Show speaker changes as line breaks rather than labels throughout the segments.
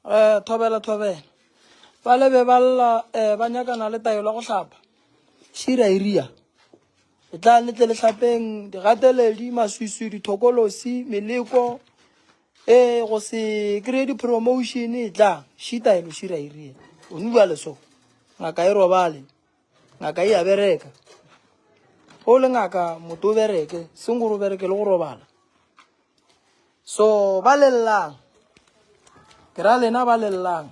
um thobela thobela ba le be ba lla um ba nyakana le taelo go hlapa šira iria e tla letle le hlapeng digateledi maswiswi dithokolosi meleko e go se kry-e di-promotion e tla šitaelo šira iria o nubja leso ngaka e robale ngaka e a bereka o le ngaka moto o bereke seng gore o bereke le go robala so ba lelelang ke ra lena ba lelelang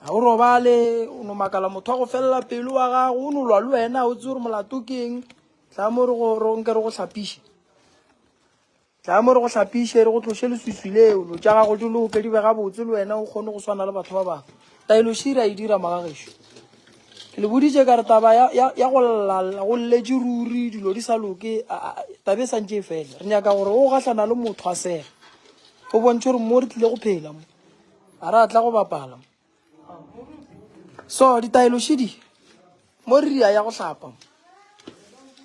ga o robale o no makala motho wa go felela pelo wa gago o no lwa le wena o tse gore molato keng tla mo re gore nke re go tlhapiše Tla mo re go hlapiše, re go tloše leswiswi leo. Lo tša gago di loke, di be gabotse, le wena o kgone go swana le batho ba bangwe. Taelo še ra e dira, magagešo. Ke le boditše ka re taba ya, ya, ya go lla, go lletše ruri, dilo di sa loke, taba e santše e fela. Re nyaka gore o gahlana le motho a sega, o bontšhe gore mo re tlile go phela mo, ga re a tla go bapala mo. So ditaelo še di mo re ya ya go hlapa mo,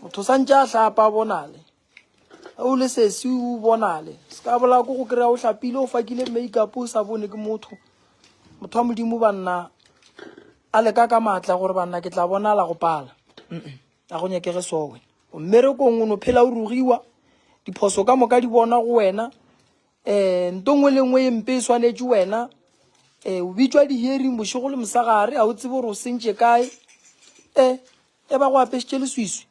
motho o santše a hlapa bonale. o le sesi o bonale se ka bola ko go kry-a o hlapile o fakile makeup o sa bone ke motho motho wa modimo banna a leka ka maatla gore banna ke tla bonala go pala a go nyakege so wena o mmerekong o no phela o rugiwa diphoso ka moka di bona go wena um nto ngwe le ngwe e mpe e swanetše wena um o bitswa di-hearing bošego le mosagare ga o tsebe gore o sentše kae um e ba go apešitše leswiswi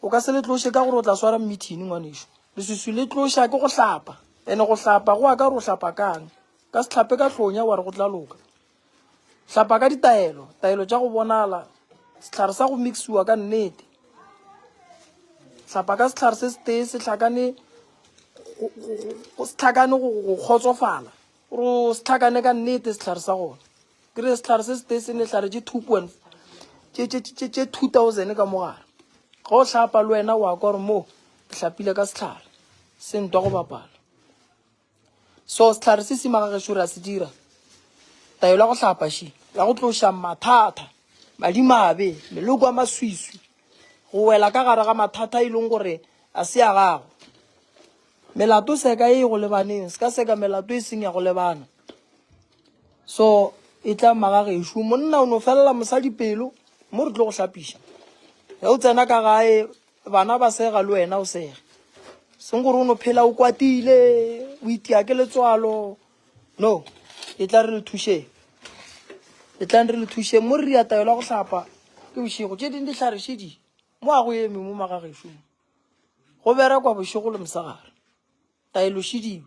O ka se le tloše ka gore o tla swara mmithini, ngwanešu. Leswiswi le tloša ke go hlapa. Ene go hlapa go aka gore o hlapa kang. Ka se hlape ka hlonya wa re go tla loka. Hlapa ka ditaelo, taelo tša go bonala, sehlare sa go mixiwa ka nnete. Hlapa ka sehlare se setee se hlakane go tlhakane go kgotsofala gore o se tlhakane ka nnete sehlare sa gona ke re sehlare se sete se nehlare tše two point tše two thousand ka mogare ga o hlapa le wena wa kwa gore moo ke hlapile ka sehlare se ntwa go bapala so sehlare se sima ga gešo ra se dira taelo ya go hlapa še ya go tloša mathata madimabe meloko a maswiswi go wela ka gare ga mathata e leng gore a se ya gago melato seka e go lebaneng se ka seka melato e seng ya go lebana So e tla maga gešo monna o no felela mosadi pelo mo re tlo go hlapiša ge o tsena ka gae bana ba sega le wena o sega seng gore o no phela o kwatile o itia ke letswalo no e tla re le thušeng e tlang re le thušeng mo re ria taelo ya go hlapa ke bošego tše ding di tlharešedi mo a go eme mo magagešong go berekwa bošego le mosegare taelo šediwe